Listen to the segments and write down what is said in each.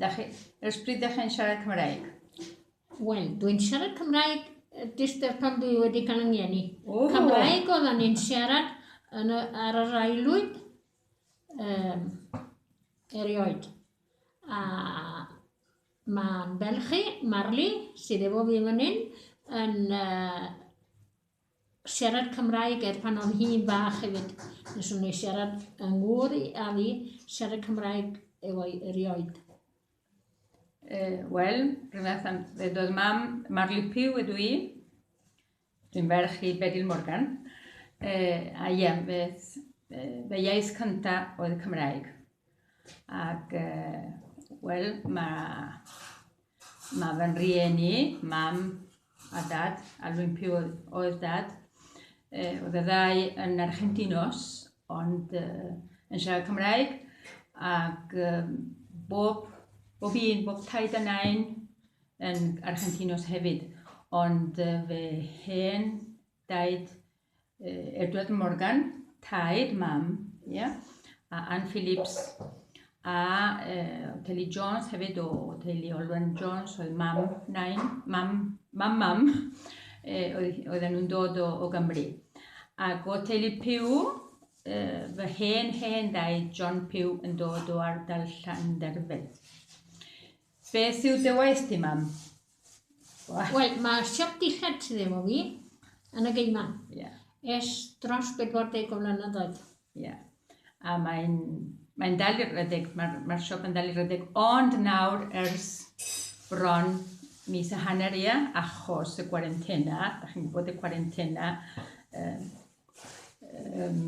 Da chi, ers pryd da chi'n siarad Cymraeg? Wel, dwi'n siarad Cymraeg jyst er pan dwi wedi cael yng ngeni. Oh. Cymraeg oedd o'n i'n siarad yn y, ar yr aelwyd um, erioed. A mae'n belchi, Marli, sydd efo fi fan hyn, yn uh, siarad Cymraeg er pan o'n hi'n fach hefyd nes o'n i siarad yng ngŵr i a fi siarad Cymraeg efo'i erioed. Uh, Wel, rhywbeth am ddedodd mam, Marley Pugh ydw i. Dwi'n ferch i Bedil Morgan. Uh, a ie, fe, fe iaith cynta oedd Cymraeg. Ac, uh, wel, mae Mae fy nrieni, mam a dad, a Lwympi oedd dad. Oedd y ddau yn Argentinos, ond yn siarad Cymraeg. Ac bob, bob un, bob taid a nain yn Argentinos hefyd. Ond fy hen daid Edward Morgan, taid mam, ia, a Ann Phillips, a e, Kelly Jones hefyd o teulu Olwen Jones, oedd mam, nain, mam, mam, mam, e, oedd, oedden nhw'n dod o, o Gymru. Ac o teulu Pew, e, fy hen hen ddaid John Pew yn dod o ardal Llanderfel. Beth yw dy waith di, mam? Wel, mae siop dillad sydd efo fi yn y geiman. Ie. Es dros 40 o flynedd oed. Ie. A mae'n mae'n dal i redeg, mae'r ma siop yn dal i redeg, ond nawr ers bron mis a hanner ia, achos y gwarentena, da chi'n gwybod y gwarentena, um, um,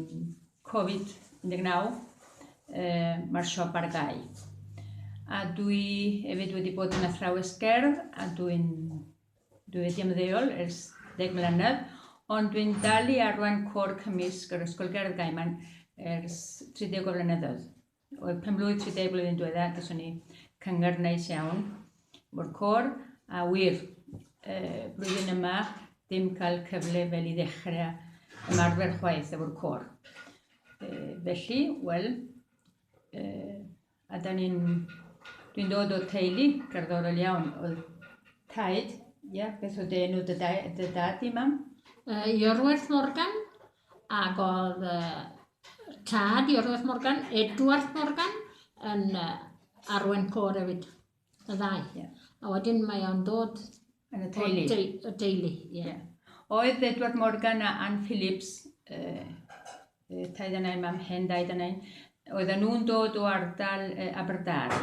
Covid-19, uh, mae'r siop ar gau. A dwi hefyd wedi bod yn athrawes gerdd a dwi'n dwi wedi ymddeol ers deg mlynedd, ond dwi'n dal i arwain cwr cymysg yr Ysgol Gerdd Gaiman ers 30 o flynyddoedd. O'r penblwydd 30 blwyddyn diwetha, gyswn ni cyngor neis iawn o'r cor, a wir, y blwyddyn yma, dim cael cyfle fel i ddechrau ymarfer chwaith efo'r cor. E, felly, wel, e, a da ni'n, dwi'n dod o teulu cerddorol iawn, oedd taid, ia, beth oedd enw dy, dy dad i mam? Uh, Iorwerth Morgan. Ac oedd uh, tad i Orweth Morgan, Edward Morgan, yn uh, arwen cor hefyd, y ddau. Yeah. A wedyn mae o'n dod yn y teulu. Te y teulu yeah. Yeah. Oedd Edward Morgan a Anne Phillips, uh, uh, taid yna i mam hen daid yna, oedd nhw'n dod o ardal uh, Aberdar,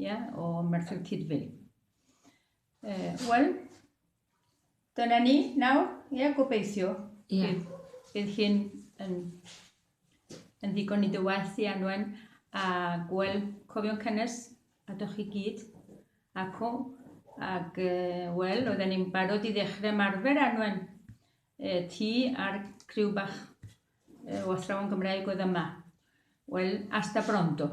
yeah, o Merthyr Cydfil. Uh, Wel, Dyna ni nawr, ie, gobeithio. Ie. Bydd, bydd hyn yn, yn ddigon i dy waith i anwen a gweld cofion cynnes a dych chi gyd ac o ac uh, wel, oedden ni'n barod i ddechrau marfer anwen uh, ti a'r criw bach uh, o athrawon Gymraeg oedd yma. Wel, asta brondo.